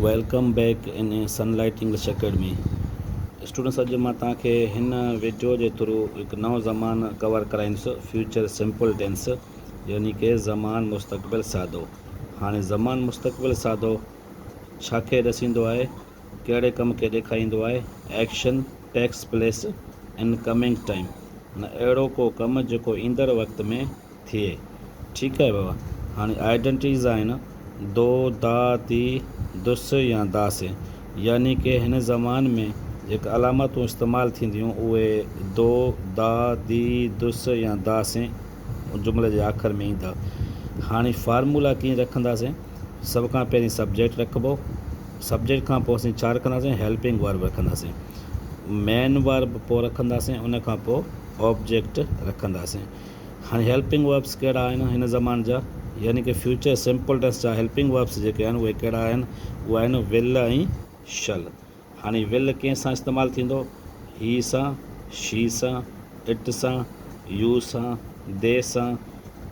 Welcome back in Sunlight English Academy students اڄ مان توهان کي هن ويڊيو جي ٿرو هڪ نئون زمان ڪور ڪرائيندس فيوچر سمپل ٽينس يعني ڪي زمان مستقبل سادو هاڻي زمان مستقبل سادو ڇا کي ڏسيندو آهي ڪهڙي ڪم کي ڏيکاريندو آهي action takes place in coming time معنيٰ اهڙو ڪو ڪم جيڪو ايندڙ وقت ۾ ٿئي ٺيڪ آهي بابا هاڻي آئيڊنٽيز آهن دو دا دي دس يا داس يعني ڪي هن زمان ۾ جيڪي علامتون استعمال ٿينديون اهي دو دا دي دس يا داس جملي جي آخر ۾ ايندا هاڻي فارمولا ڪيئن رکنداسين سڀ کان پهرين سبجيڪٽ رکبو سبجيڪٽ کان پوء اسين ڇا رکنداسين هيلپنگ ورب رکنداسين مين ورب پوء رکنداسين ان کان پوء آبجيڪٽ رکنداسين هاڻي هيلپنگ وربس ڪهڙا آهن هن زمان جا يعني ڪه فيوچر سمپل ٽينس جا هيلپنگ وربس جيڪي آهن اهي ڪهڙا آهن اهي آهن ول ۽ شل هاڻي ول ڪنهن سان استعمال ٿيندو هي سان شي سان اٽ سان يو سان دي سان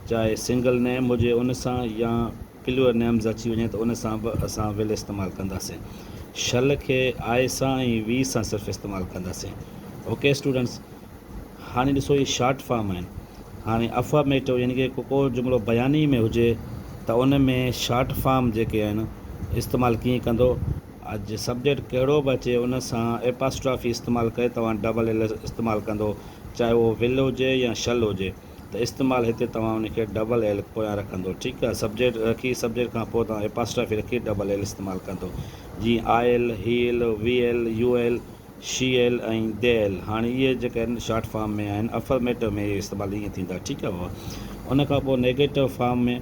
چاهي سنگل نيم هجي ان سان يا پليور نيمز اچي وڃي ته ان سان به اسان ول استعمال ڪنداسين شل کي آء سان ۽ وي سان صرف استعمال ڪنداسين اوڪي اسٽوڊنٽس هاڻي ڏسو هي شارٽ فارم آهن. هاڻي افرميٽو يعني ڪي ڪو جملو بياني ۾ هجي ته ان ۾ شارٽ فارم جيڪي آهن استعمال ڪيئن ڪندو؟ اڄ سبجيڪٽ ڪهڙو به اچي ان سان ايپاسٽرافي استعمال ڪري توهان ڊبل ايل استعمال ڪندو چاهي اهو ول هجي يا شل هجي ته استعمال هتي توهان ان کي ڊبل ايل پويان رکندو ٺيڪ آهي سبجيڪٽ رکي سبجيڪٽ کان پوء توهان ايپاسٽرافي رکي ڊبل ايل استعمال ڪندو جيئن I'll he'll we'll you'll she'll ۽ they'll هاڻي اهي جيڪي آهن شارٽ فارم ۾ آهن افرميٽو ۾ اهي استعمال ائين ٿيندا ٺيڪ آهي ان کان پوء نيگيٽو فارم ۾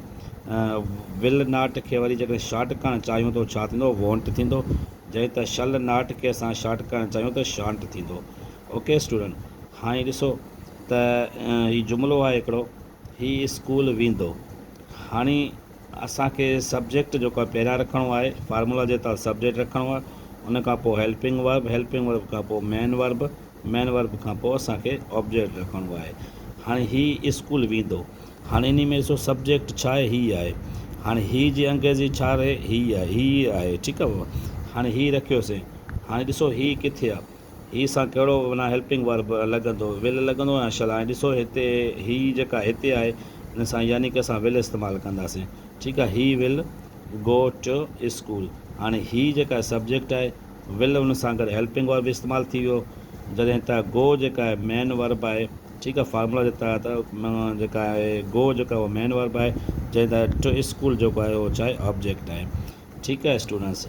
ول ناٽ کي وري جيڪڏهن شارٽ ڪرڻ چاهيون ته ڇا ٿيندو وونٽ ٿيندو جئين ته شل ناٽ کي اسان شارٽ ڪرڻ چاهيون ته شانٽ ٿيندو اوڪي اسٽوڊنٽ هاڻي ڏسو ته هي جملو آهي هڪڙو هي اسڪول ويندو هاڻي اسان کي سبجيڪٽ جيڪو آهي پهريان رکڻو آهي فارمولا جي تحت سبجيڪٽ رکڻو آهي ان کان پوء هيلپنگ ورب هيلپنگ ورب کان پوء مين ورب مين ورب کان پوء اسان کي آبجيڪٽ رکڻو آهي هاڻي هي اسڪول ويندو هاڻي انهي ۾ ڏسو سبجيڪٽ ڇا آهي هي آهي هاڻي هي جي انگريزي ڇا رهي هي آهي هي آهي ٺيڪ آهي بابا هاڻي هي رکيوسين هاڻي ڏسو هي ڪٿي آهي هي سان ڪهڙو معنيٰ هيلپنگ ورب لڳندو، will لڳندو يا shall؟ ۽ ڏسو هتي هي جيڪا هتي آهي ان سان يعني ڪه اسان will استعمال ڪنداسين. ٺيڪ آهي هي will go to school. هاڻي هي جيڪا سبجيڪٽ آهي will ان سان گڏ هيلپنگ ورب استعمال ٿي ويو جڏهن ته go جيڪا آهي مين ورب آهي ٺيڪ آهي فارمولا جي تحت جيڪا آهي go جيڪا اهو مين ورب آهي جڏهن ته to school جيڪو آهي اهو ڇا آهي آبجيڪٽ آهي ٺيڪ آهي اسٽوڊنٽس.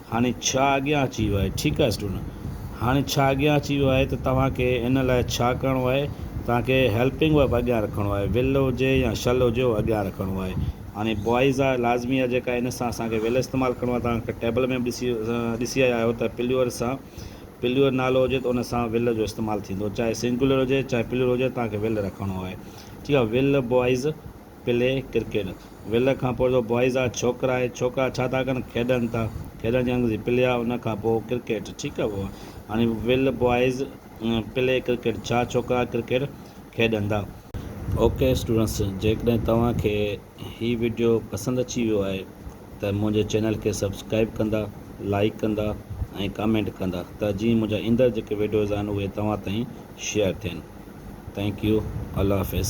هاڻي ڇا اڳيان اچي ويو آهي؟ ٺيڪ آهي اسٽوڊنٽ هاڻي ڇا اڳيان اچي ويو آهي ته توهان کي ان لاء ڇا ڪرڻو آهي توهان کي هيلپنگ ورب اڳيان رکڻو آهي ول هجي يا شل هجي اهو اڳيان رکڻو آهي هاڻي بوائز آهي لازمي آهي جيڪا ان سان اسان کي ول استعمال ڪرڻو آهي توهان کي ٽيبل ۾ به ڏسي ڏسي آيا آهيو ته پليور سان پليور نالو هجي ته ان سان ول جو استعمال ٿيندو چاهي سنگولر هجي چاهي پليور هجي توهان کي ول رکڻو آهي ٺيڪ آهي will boys play cricket will کان پوء جو بوائز آ ڇوڪرا آهي ڇوڪرا ڇا ٿا ڪن کيڏن ٿا کيڏن جي انگريزي پلي آ ان کان پوء ڪرڪيٽ ٺيڪ آ هاڻي ول بوائز پلي ڪرڪيٽ ڇا ڇوڪرا ڪرڪيٽ کيڏندا. اوڪي اسٽوڊنٽس جيڪڏهن توهان کي هي وڊيو پسند اچي ويو آهي ته منهنجي چينل کي سبسڪرائب ڪندا لائڪ ڪندا ۽ ڪامينٽ ڪندا ته جيئن منهنجا ايندڙ جيڪي وڊيوز آهن اهي توهان تائين شيئر ٿين. ٿينڪ يو الله حافظ.